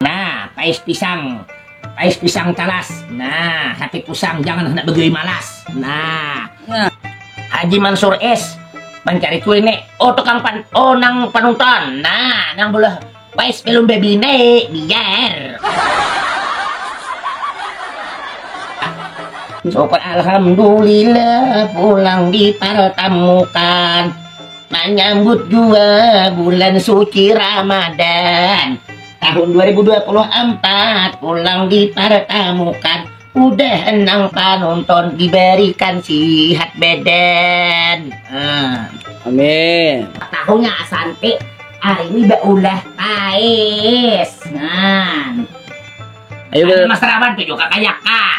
Nah, pais pisang. Pais pisang talas. Nah, hati pusang jangan hendak begeri malas. Nah. nah. Haji Mansur es mencari kuliner. Oh, tukang pan. Oh, nang panutan. Nah, nang boleh pais belum baby ne biar. Coba alhamdulillah pulang dipertemukan. Manyambut dua bulan suci Ramadan tahun 2024 pulang dipertemukan udah enang panonton diberikan sihat badan. Hmm. Amin. Tahunya Asante hari ini baulah pais. Nah. Ayo, Mas Rawan tuh juga kayak kak.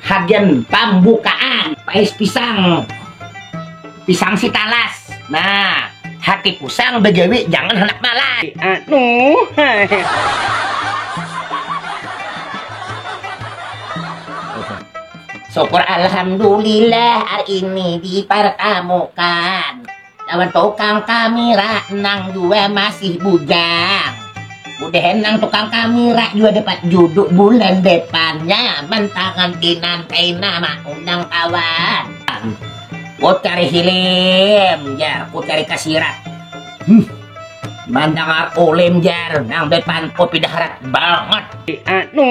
Hagan pambukaan pais pisang pisang si talas nah hati pusang begawi jangan handak malas anu syukur alhamdulillah hari ini dipertemukan Lawan tukang kamira nang jua masih bujang. Udah enang tukang kamira jua dapat juduk bulan depannya mentangan tinan kaina maundang kawan. Ku cari hilim jar, ku cari kasirat. Hmm. Mandangar ulim jar, nang depan kopi daharat banget. Anu.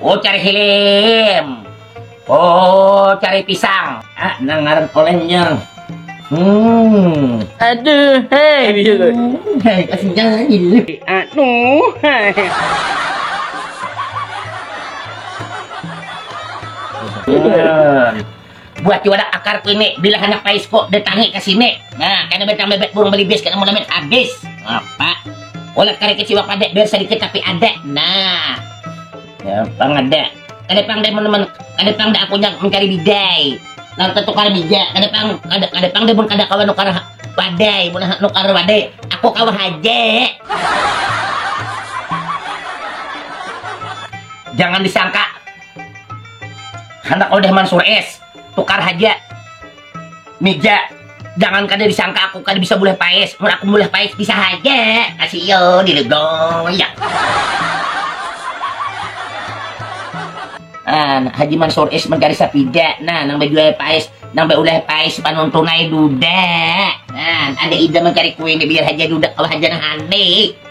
Ucari hilim. Ucari pisang. Ah, nang ngaran olengnya. Hmm. Aduh, hai. Hai, kasih jangan. Aduh, hai. Hmm. Buat jua dah akar kini bila handak paisko datangi ka sini. Nah, kada batang bebek burung belibis kada mulamin habis. Apa? Ulat tarik kecil apa dek biar sedikit tapi ada. Nah. Ya, pang ada. Kada pang dek teman-teman. Kada pang dek aku yang mencari bidai. Lalu tetukar bija. Kada pang kada kada pang dek mun kada kawan nukar wadai, mun nukar wadai. Aku kawan haja. Jangan disangka Handak udah mansur es, tukar haja. Mija, jangan kada disangka aku kada bisa mulai paes. Mun aku mulai paes bisa haja. Kasih yo dilegong ya. An, Haji Mansur es mencari sapida. Nah, nang bejual paes, nang beulai paes panuntunai duda. Nah, ada ide mencari kue ini biar haja duda kalau haja nang aneh.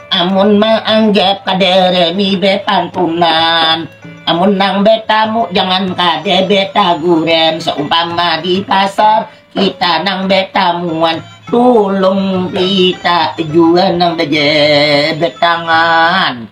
Amun maanggap kadada ni bepantunan, amun nang betamu jangan kada betaguran seumpama di pasar kita nang betamuan tulung kita jua nang bejabat tangan.